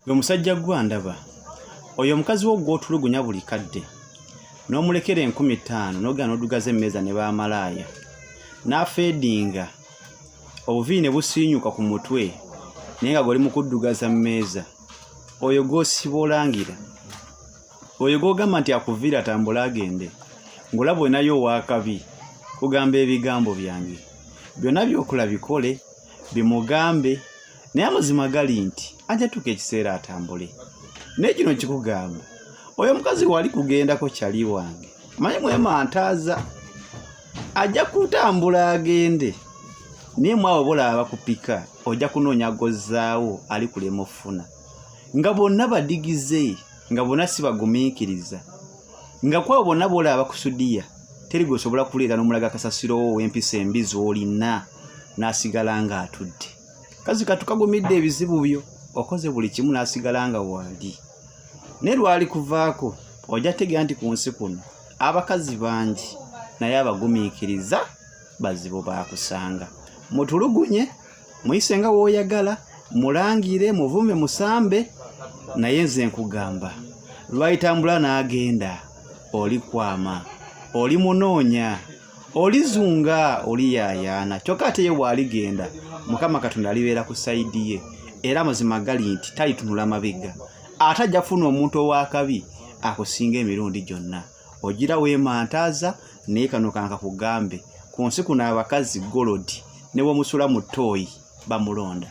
Gwe musajja gwe andaba oyo omukazi wo gw'otulugunya buli kadde n'omulekera enkumi ttaano n'ogenda n'odugaza emmeeza ne baamalaaya n'afeedinga obuviiri ne busiinyuka ku mutwe naye nga gwoli mu kuddugaza mmeeza oyo gw'osiba olangira oyo gw'ogamba nti akuviira atambule agende ng'olaba olinayo ow'akabi kugamba ebigambo byange byonna by'okola bikole bimugambe naye amazima gali nti ajja tuuka ekiseera atambule naye kino nkikugamba oyo omukazi wali kugendako kyali wange manyi mwemantaaza ajja kutambula agende naye mwabo bolaaba kupika ojja kunoonya gozzaawo ali kulema ofuna nga bonna badigize nga bonna si bagumiikiriza nga kwabo bonna bolaaba kusudiya teri gwesobola kuleeta nomulaga kasasiro wo wempisa embi zolina nasigala nga atudde kazi katukagumidde ebizibu byo okoze buli kimu n'asigala nga wandi ne lwali kuvaako ojja tegera nti ku nsi kuno abakazi bangi naye abagumiikiriza bazibu baakusanga mutulugunye muyise nga wooyagala mulangire muvume musambe naye nze nkugamba lwayitambula n'agenda olikwama oli munoonya olizunga oliyaayaana kyokka ate ye waaligenda mukama katonda alibeera ku sayidi ye era mazima gali nti talitunula mabega ate ajja kufuna omuntu ow'akabi akusinga emirundi gyonna ogira weemantaaza naye kano kanka kugambe ku nsi kuno abakazi golodi ne bwomusula mu ttooyi bamulonda